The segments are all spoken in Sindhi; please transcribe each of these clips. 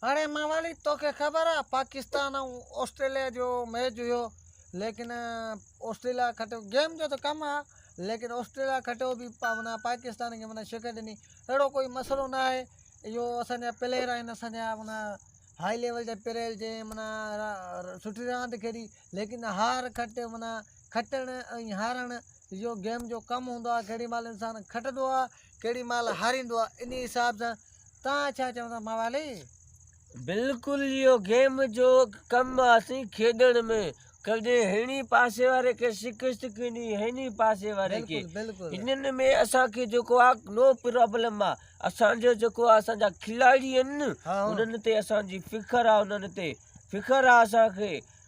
هاڻي موالي توکي خبر آ پاڪستان ۽ آسٽريليا جو ميچ هيو ليڪن آسٽريليا کٽيو گيم جو ته ڪم آ ليڪن آسٽريليا کٽيو به معنيٰ پاڪستان کي معنيٰ شڪست ڏني اهڙو ڪوئي مسئلو نه آهي اهو اسانجا پليئر آهن اسانجا معنيٰ هائي ليول جا پليئر جنهن معنيٰ سٺي راند کيڏي ليڪن هار کٽ معنيٰ کٽڻ ۽ هارڻ اهو گيم جو ڪم هوندو آهي ڪهڙي مهل انسان کٽندو آهي ڪهڙي مهل هاريندو آهي انهي حساب سان توهان ڇا چئو ٿا موالي بلڪل اهو گيم جو ڪم آهي کيڏڻ ۾ ڪڏهن هن ئي پاسي واري کي شڪست ڪني هن ئي پاسي واري کي بلڪل بلڪل انهن ۾ اسان کي جيڪو آ نو پرابلم آ اسان جو جيڪو آ اسان جا کلاڙي آهن ها. انهن تي اسان جي فخر آ انهن تي فخر آ اسان کي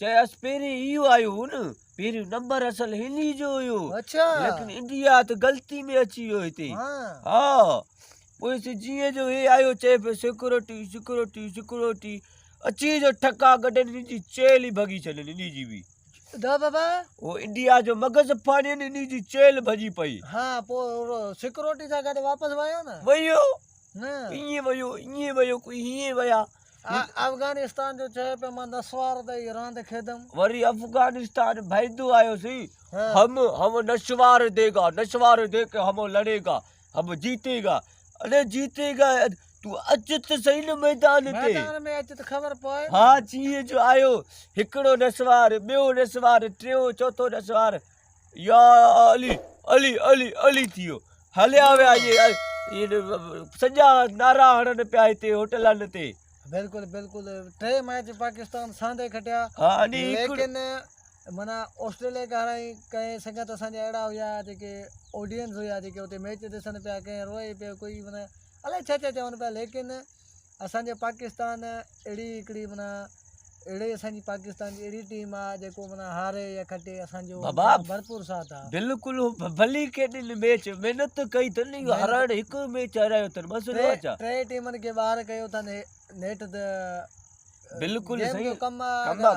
چيس پهرين اهو آيو هو نه پهريون نمبر اصل هن ئي جو هيو اڇا ليڪن انڊيا ته غلطي ۾ اچي ويو هتي ها پوء جيئن جو هي آيو چي پي سيڪورٽي سيڪورٽي سيڪورٽي اچي جو ٺڪا گڏن جي چيل ئي ڀڳي ڇڏن اني جي بي دا بابا او انڊيا جو مغز پھاڻي ان اني جي چيل ڀڄي پئي ها پو سيڪورٽي سان گڏ واپس ويو نه ويو نه ايئن ويو ايئن ويو ڪوئي هيئن ويا افغانستان جو چهي پيو مان نسوار تي ئي راند کيڏم. وري افغانستان ڀيدو آيو سي هم هم نسوار ديگا نسوار دي ڪي هم لڙي گا هم جيتي گا اڙي جيتي گا تون اچ ته سهي نه ميدان تي ميدان ۾ اچ ته خبر پوي نه ها چيئي جو آيو هڪڙو نسوار ٻيو نسوار ٽيون چوٿون نسوار يا علي علي علي علي ٿي ويو هليا ويا ائين سڄا نعرا هڻن پيا هتي هوٽلن تي بلڪل بلڪل ٽي ميچ پاڪستان ساندي کٽيا ليڪن معنيٰ آسٽريليا کي هارائي ڪئين سنگت اسان جا اهڙا هيا جيڪي آڊينس هيا جيڪي اتي ميچ ڏسن پيا ڪئين روئي پيو ڪوئي معنيٰ الائي ڇا ڇا چون پيا ليڪن اسانجي پاڪستان اهڙي هڪڙي معنيٰ اهڙي اسانجي پاڪستان جي اهڙي ٽيم آ جيڪو معنيٰ هاري يا کٽي اسانجو ڀرپور ساٿ آ بلڪل ڀلي ڪيڏن ميچ محنت ڪئي تن هارائڻ هڪ ميچ هارايو تن بس ٽي ٽيمن کي ٻاهر ڪيو تن نيٺ ته بلڪل سائين ڪم آ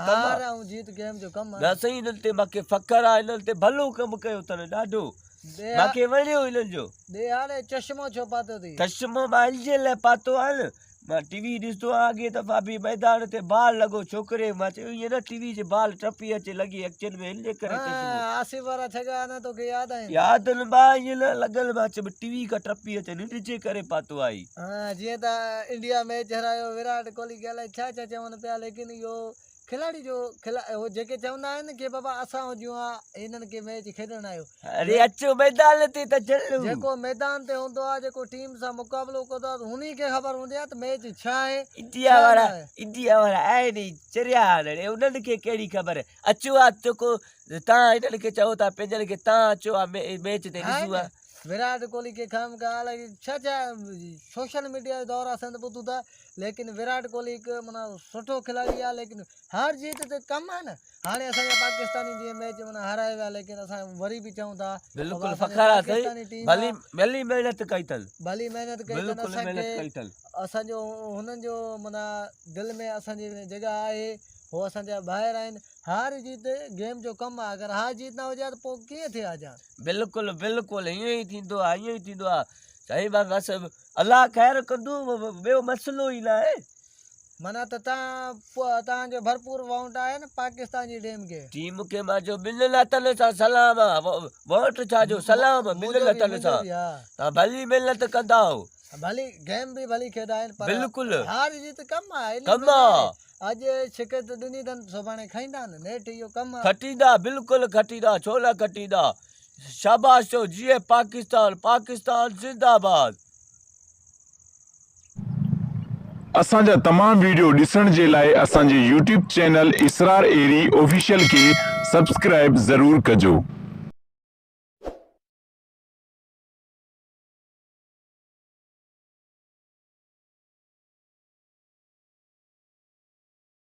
هار ۽ جيت گيم جو ڪم آ نه سائين انهن تي مونکي فخر آ انهن تي ڀلو ڪم ڪيو تن ڏاڍو ماکي وڻيو انهن جو. ڏيهاڙي چشمو ڇو پاتو ٿي؟ چشمو مان الجهيل لاء پاتو آهي نه. مان ٽي وي ڏسندو آهيان اڳي دفعا به ميدان تي بال لڳو ڇوڪري مان چيو ائين نه ٽي وي جي بال ٽپي اچي لڳي اکين ۾ ان ڪري چشمو. آصف وارا ڇڳا اڃا توکي ياد آهن. ياد آهن ڀاء ائين نه لڳل مان چيو ٽي وي کان ٽپي اچي ننڊ جي ڪري پاتو آهي. جيئن ته انڊيا ميچ هرايو وراٽ ڪوهلي کي الائي ڇا ڇا چون پيا ليڪن اهو. کلاڙي جو کلاڙي جيڪي چوندا آهن ڪي بابا اسان هجون ها هنن کي ميچ کيڏڻ آيو اري اچو ميدان تي ته چلو جيڪو ميدان تي هوندو آ جيڪو ٽيم سان مقابلو ڪندو آ هني کي خبر هوندي آ ته ميچ ڇا آهي انڊيا وارا انڊيا وارا آهن چريا هنن انهن کي ڪهڙي خبر اچو آ جيڪو تا هنن کي چئو ٿا پنهنجن کي تا اچو آ ميچ تي ڏسو آ ويرات ڪوهلي کي خام خيال ڇا ڇا سوشل ميڊيا دورا سنڌ ٻڌو ٿا ليڪن وراٽ ڪوهلي هڪ معنيٰ سٺو کلاڙي آهي ليڪن هار جيت ته ڪم آهي نه هاڻي اسانجا پاڪستاني جيئن ميچ معنيٰ هارائي ويا ليڪن اسان وري به چئون ٿا بلڪل فخر آهي سائين ڀلي ڀلي محنت ڪئي اٿن ڀلي محنت ڪئي اٿن اسانکي اسانجو هنن جو معنيٰ دل ۾ اسانجي جڳهه آهي هو اسانجا ڀائر آهن هار جيت گيم جو ڪم آهي اگر هار جيت نه هجي ها ته پوء ڪيئن ٿئي ها جان بلڪل بلڪل ائين ئي ٿيندو آهي ائين ئي ٿيندو آهي سائين بس الله خير ڪندو ٻيو مسئلو ئي ناهي. معنيٰ ته تان توهان کي ڀرپور وونٽ آهي نه پاڪستان جي ڊيم کي. ٽيم کي ماجو ٻن لتن سان سلام آ وونٽ ڇا جو سلام ٻن لتن سان تان ڀلي محنت ڪندائو. ڀلي گيم به ڀلي کيڏائين پر هار جيت ڪم آ ڪم آ اڄ شڪست ڏني تن سڀاڻي کائيندا نه نيٺ اهو ڪم آ. کٽيندا بلڪل کٽيندا ڇو نه کٽيندا شاباش چئو جيئي پاڪستان پاڪستان زنده آباد. اسان جا تمام ويڊيو ڏسڻ جي لاء اسان جي يوٽيوب چينل اسرار ايري آفيشل کي سبسڪرائب ضرور ڪجو.